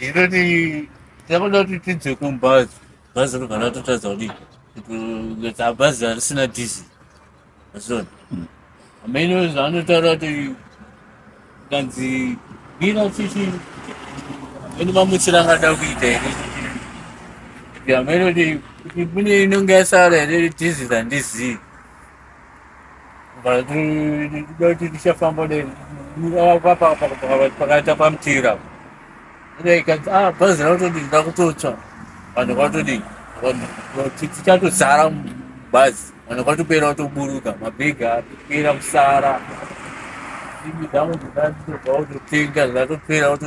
Iroti takuda kuti tidze kumbazi bhazi rovana totadza kuti kuita bhazi harisina diesel azviona mm. amene zvaanotaura kuti kanzi mira chichi amene mamutsira angada kuita here kuti amene kuti mune inonge yasara here diesel handizii doti tichafamba pakaita pamutira ah, bhazi rakutodi ndakutotsva vanhu kwatodii tichatozara mubhazi vanhu kwatopera watoburuka mabhegi apera kusara imi dzamu dzatobva watotenga zvatopera wato